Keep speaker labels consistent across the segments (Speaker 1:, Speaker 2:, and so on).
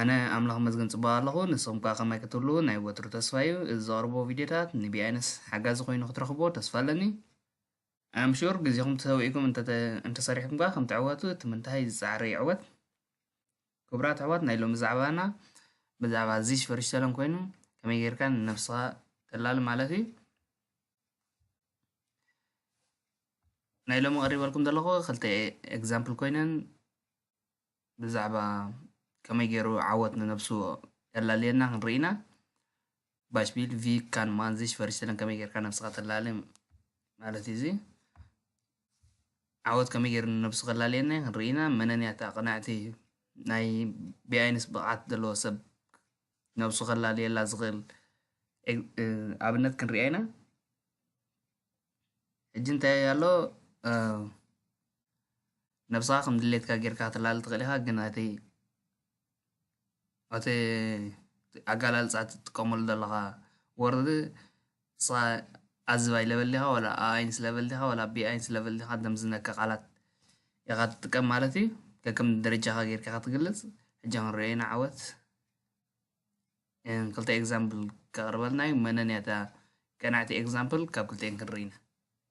Speaker 1: ኣነ ኣምላኽ ይመስገን ጽቡቕ ኣለኹ ንስኹም ከኣ ከማይ ክትህልዉ ናይ ወትሩ ተስፋይ እዩ እዚ ዘቕርቦ ቪድዮታት ንቢኣይነስ ሓጋዚ ኮይኑ ክትረኽብዎ ተስፋ ኣለኒ ኣም ሹር ግዜኹም ተሰዊእኩም እንተ እንተሰሪሕኩም ከኣ ከም ትዕወቱ እቲ ምንታይ ዝጸዓረ ይዕወት ክቡራት ኣሕዋት ናይ ሎሚ ዛዕባና ብዛዕባ ዚሽ ፈሪሽተለን ኮይኑ ከመይ ጌርካ ንነብስኻ ተላሊ ማለት እዩ ናይ ሎሚ ቀሪበልኩም ዘለኹ ክልተ ኤግዛምፕል ኮይነን ብዛዕባ ከመይ ጌሩ ዓወት ንነብሱ ከላልየና ክንርኢ ኢና ባሽቢል ቪክ ካን ማን ዚሽ ፈሪሰለን ከመይ ጌርካ ነብስኻ ተላሊ ማለት እዩ እዚ ዓወት ከመይ ጌሩ ንነብሱ ከላልየና ክንርኢ ኢና መነን እያ እታ ቅንዕቲ ናይ ብኣይንስ ብቕዓት ዘለዎ ሰብ ነብሱ ከላልየላ ዝኽእል ኣብነት ክንሪኣ ኢና ሕጂ እንታይ ኣሎ ነብስኻ ከም ድሌትካ ጌርካ ክትላሊ ትኽእል ኢኻ ግን እቲ እቲ ኣገላልጻ እቲ ትጥቀመሉ ዘለኻ ወርድ ንስኻ ኣዝብ ኣይለበል ዲኻ ወላ ኣኣይንስ ለበል ዲኻ ወላ ቢኣይንስ ለበል ዲኻ ደም ዝነከ ቃላት ኢኻ ትጥቀም ማለት እዩ ከከም ደረጃኻ ጌርካ ኢኻ ትግልጽ ሕጂ ክንሪኦ ኢና ዓወት ክልተ ኤግዛምፕል ከቕርበልና እዩ መነን እያ እታ ቀናዕቲ ኤግዛምፕል ካብ ክልቲኤን ክንርኢ ኢና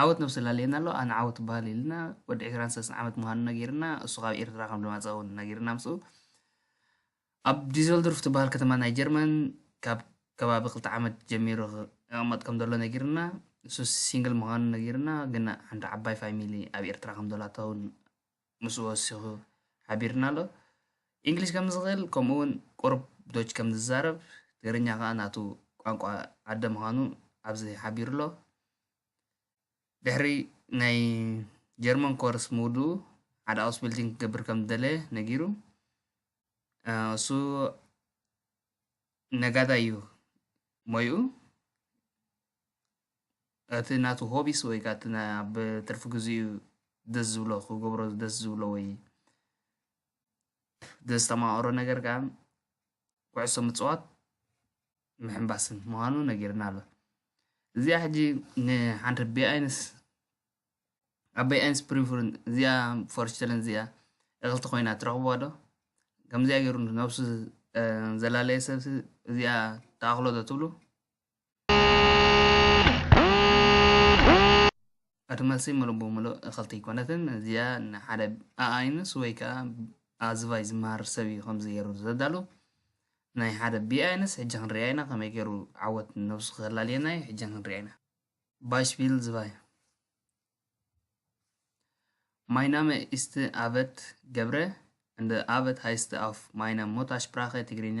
Speaker 1: ዓወት ነብሲ ላለየና ኣሎ ኣነ ዓወት በሃል ኢልና ወዲ 23 ዓመት ምዃኑ ነጊርና እሱ ካብ ኤርትራ ከም ዝመፀ እውን ነጊርና ምስኡ ኣብ ዲዘልዶርፍ ትበሃል ከተማ ናይ ጀርመን ካብ ከባቢ ክልተ ዓመት ጀሚሩ ክቕመጥ ከም ዘሎ ነጊርና እሱ ሲንግል ምዃኑ ነጊርና ግን ሓንቲ ዓባይ ፋሚሊ ኣብ ኤርትራ ከም ዘላታ እውን ምስ ወሲኹ ሓቢሩና ኣሎ። ኢንግሊሽ ከም ዝኽእል ከምኡ እውን ቁሩብ ዶች ከም ዝዛረብ ትግርኛ ከኣ ናቱ ቋንቋ ኣደ ምዃኑ ኣብዚ ሓቢሩ ኣሎ። ድሕሪ ናይ ጀርመን ኮርስ ምውድኡ ሓደ ኣውስቢልዲንግ ክገብር ከም ዝደለየ ነጊሩ። እሱ ነጋዳይ እዩ ሞይኡ። እቲ ናቱ ሆቢስ ወይ ከኣ እቲ ናይ ኣብ ትርፊ ግዜኡ ደስ ዝብሎ ክገብሮ ደስ ዝብሎ ወይ ዘስተማቕሮ ነገር ከኣ ኩዕሶ ምጽዋት ምሕንባስን ምዃኑ ነጊርና ኣሎ እዚኣ ሕጂ ንሓንቲ ቢኣይንስ ኣብ ቢኣይንስ ፕሪፍርን እዚኣ ፎርሽተልን እዚኣ እኽልቲ ኮይና ትረኽብዋ ዶ ከምዚኣ ገይሩ ነብሱ ዘላለየ ሰብሲ እዚኣ ተኣኽሎ ዶ ትብሉ እቲ መልሲ ምሉእ ብምሉእ እኽልቲ ኣይኮነትን። እዚኣ ንሓደ ኣኣይንስ ወይ ከዓ ኣዝባይ ዝመሃር ሰብ እዩ ከምዚ ገይሩ ዘዳሉ ናይ ሓደ ቢኣይንስ ሕጂ ክንሪኣ ኢና ከመይ ገይሩ ዓወት ነብሱ ከላልየና እዩ ሕጂ ክንሪኣ ኢና ባይሽቪል ዝባይ Mein Name ist Abed Gebre und Abed heißt auf meiner Muttersprache ትግርኛ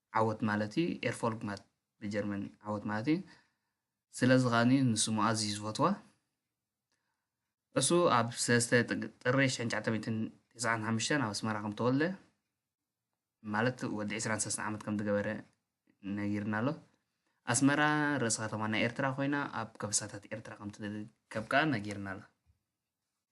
Speaker 1: ዓወት ማለት እዩ ኤርፎልግ ማለት ብጀርመን ዓወት ማለት እዩ ስለዚ ከኣ ንስሙ ኣዝዩ ዝፈትዋ እሱ ኣብ ሰለስተ ጥሪ ሽሕን ትሽዓተ ሚእትን ትስዓን ሓሙሽተን ኣብ ኣስመራ ከም ተወልደ ማለት ወዲ ዕስራን ሰለስተ ዓመት ከም ዝገበረ ነጊርና ኣሎ ኣስመራ ርእሲ ከተማ ናይ ኤርትራ ኮይና ኣብ ከበሳታት ኤርትራ ከም ትርከብ ከኣ ነጊርና ኣሎ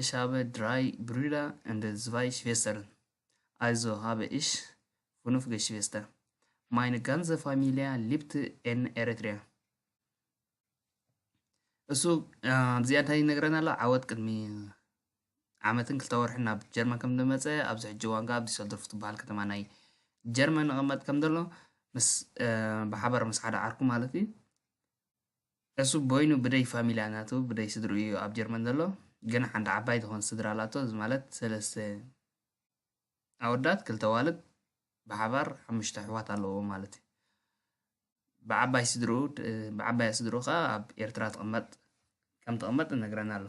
Speaker 1: እሽ ሃበ ድራይ ብሩዳ እንደ ዝባይ ሽቬስተርን ኣይዞ ሃበ እሽ ፍኑፍ ገሽቬስተር ማይን ጋንዘ ፋሚልያ ሊብት ኤን ኤረትርያ እሱ ኣብዚ ኣንታይ ይነግረና ኣሎ ዓወት ቅድሚ ዓመትን ክልተ ወርሕን ናብ ጀርመን ከም ዝመፀ ኣብዚ ሕጂ እዋን ከዓ ኣብ ዲሰልዶርፍ ትበሃል ከተማ ናይ ጀርመን ንቐመጥ ከም ዘሎ ምስ ብሓባር ምስ ሓደ ዓርኩ ማለት እዩ ዕሱብ ቦይኑ ብደይ ፋሚልያ ናቱ ብደይ ስድርኡ እዩ ኣብ ጀርመን ዘሎ ግን ሓንቲ ዓባይ ትኾን ስድራ ኣላቶ እዚ ማለት ሰለስተ ኣወዳት ክልተ ኣዋልድ ብሓባር ሓሙሽተ ኣሕዋት ኣለዎ ማለት እዩ ብዓባይ ስድርኡ ብዓባያ ስድርኡ ከዓ ኣብ ኤርትራ ትቕመጥ ከም ትቕመጥ እነግረና ኣሎ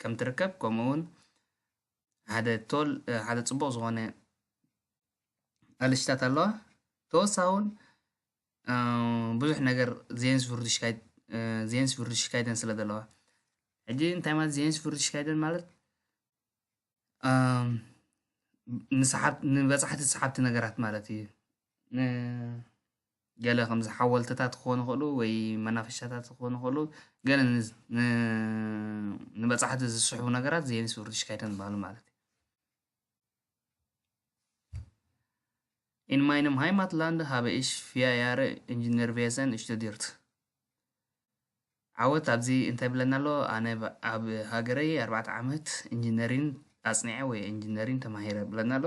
Speaker 1: ከም ትርከብ ከምኡ ውን ሓደ ቶል ሓደ ጽቡቕ ዝኾነ ኣለሽታት ኣለዋ ተወሳኺ ውን ብዙሕ ነገር ዜንስ ቭርድሽካይደን ስለ ዘለዋ ሕጂ እንታይ ማለት ዜንስ ቭርድሽካይደን ማለት ንበጻሕቲ ሰሓብቲ ነገራት ማለት እዩ ገለ ከምዚ ሓወልትታት ክኾኑ ይኽእሉ ወይ መናፈሻታት ክኾኑ ይኽእሉ ገለ ንበፃሕቲ ዝስሕቡ ነገራት ዜንስ ውርድሽካይተን ዝበሃሉ ማለት እዩ In meinem Heimatland habe ich vier Jahre Ingenieurwesen studiert. ዓወት ኣብዚ እንታይ ብለና ኣሎ ኣነ ኣብ ሃገረይ ኣርባዕተ ዓመት ኢንጂነሪን ኣፅኒዐ ወይ ኢንጂነሪን ተማሂረ ብለና ኣሎ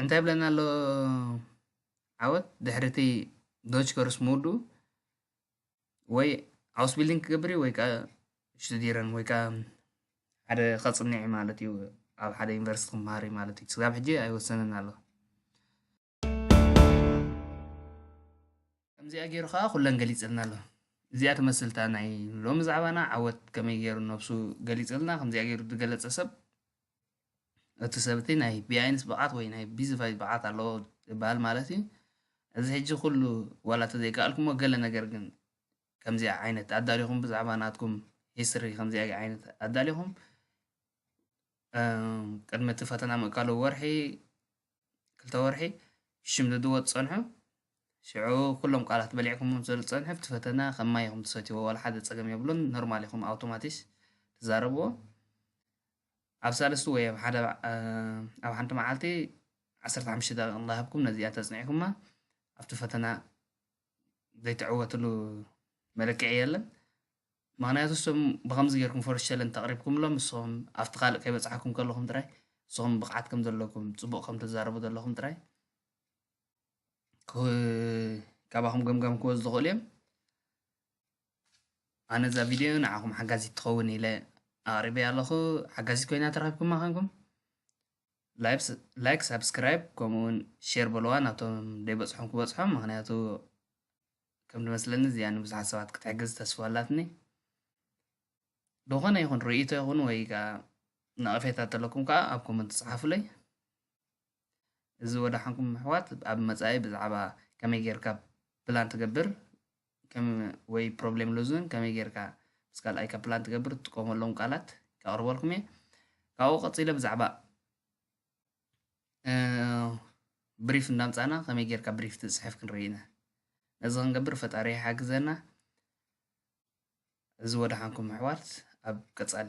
Speaker 1: እንታይ ይብለና ኣሎ ዓወት ድሕሪ እቲ ዶች ከርስ ምውድኡ ወይ ኣውስቢልዲንግ ክገብር እዩ ወይ ከዓ ሽቱዲረን ወይ ከዓ ሓደ ከፅንዕ እዩ ማለት እዩ ኣብ ሓደ ዩኒቨርሲቲ ክምሃር እዩ ማለት እዩ ስጋብ ሕጂ ኣይወሰንን ኣሎ ከምዚኣ ገይሩ ከዓ ኩለን ገሊፅልና ኣሎ እዚኣ ትመስልታ ናይ ሎሚ ዛዕባና ዓወት ከመይ ገይሩ ነብሱ ገሊፅልና ከምዚኣ ገይሩ ዝገለፀ ሰብ እቲ ሰብ'ቲ ናይ ቢኣይንስ ብቕዓት ወይ ናይ ቢዝፋይዝ ብቕዓት ኣለዎ ይበሃል ማለት እዩ። እዚ ሕጂ ኩሉ ዋላ ተዘይከኣልኩሞ ገለ ነገር ግን ከምዚኣ ዓይነት ኣዳሊኹም ብዛዕባ ናትኩም ሂስትሪ ከምዚኣ ዓይነት ኣዳሊኹም ቅድሚ እቲ ፈተና ምእካሉ ወርሒ ክልተ ወርሒ ሽምድድዎ ትጸንሑ ሽዑ ኩሎም ቃላት በሊዕኩም ስለ ዝጸንሑ እቲ ፈተና ከም ማይ ኢኹም ትሰትይዎ ዋላ ሓደ ጸገም የብሉን ኖርማል ኢኹም ኣውቶማቲስ ትዛረብዎ ኣብ ሳልስቲ ወይ ኣብ ሓደ ኣብ ሓንቲ መዓልቲ ዓሰርተ ሓሙሽተ ደቂቕ እንዳሃብኩም ነዚኣ ተጽኒዕኩማ ኣብቲ ፈተና ዘይትዕወትሉ መለክዒ የለን ምክንያቱ እሶም ብከምዚ ጌርኩም ፈርስት ቸለንጅ ተቕሪብኩምሎም እሶም ኣብቲ ካልእ ከይበጽሓኩም ከለኹም ጥራይ እሶም ብቕዓት ከም ዘለኩም ጽቡቕ ከም ትዛረቡ ዘለኹም ጥራይ ካባኹም ገምጋም ክወዝ ዝኽእሉ እዮም ኣነ እዛ ቪድዮ ንዓኹም ሓጋዚት ትኸውን ኢለ ኣቕሪበያ ኣለኹ ሓጋዚት ኮይና ተረኪብኩማ ኮንኩም ላይክ ሳብስክራይብ ከምኡውን ሼር በለዋ ናብቶም ደይበፅሖም ክበፅሖም ምክንያቱ ከም ዝመስለኒ እዚኣ ንብዙሓት ሰባት ክትሕግዝ ተስፋ ኣላትኒ ዝኾነ ይኹን ርእይቶ ይኹን ወይ ከዓ ነቐፌታ ተለኩም ከዓ ኣብ ኮመንት ፅሓፉለይ እዚ ወዳሓንኩም ኣሕዋት ኣብ መጻኢ ብዛዕባ ከመይ ጌርካ ፕላን ትገብር ከም ወይ ፕሮብሌም ሎዝን ከመይ ጌርካ ምስ ካልኣይካ ፕላን ትገብር ትጥቀመሎም ቃላት ከቕርበልኩም እየ ካብኡ ቀጺለ ብዛዕባ ብሪፍ እንዳምፃና ከመይ ጌርካ ብሪፍ ትፅሕፍ ክንርኢ ኢና ነዚ ክንገብር ፈጣሪ ይሓግዘና እዚ ወደሓንኩም ኣሕዋት ኣብ ቀፃሊ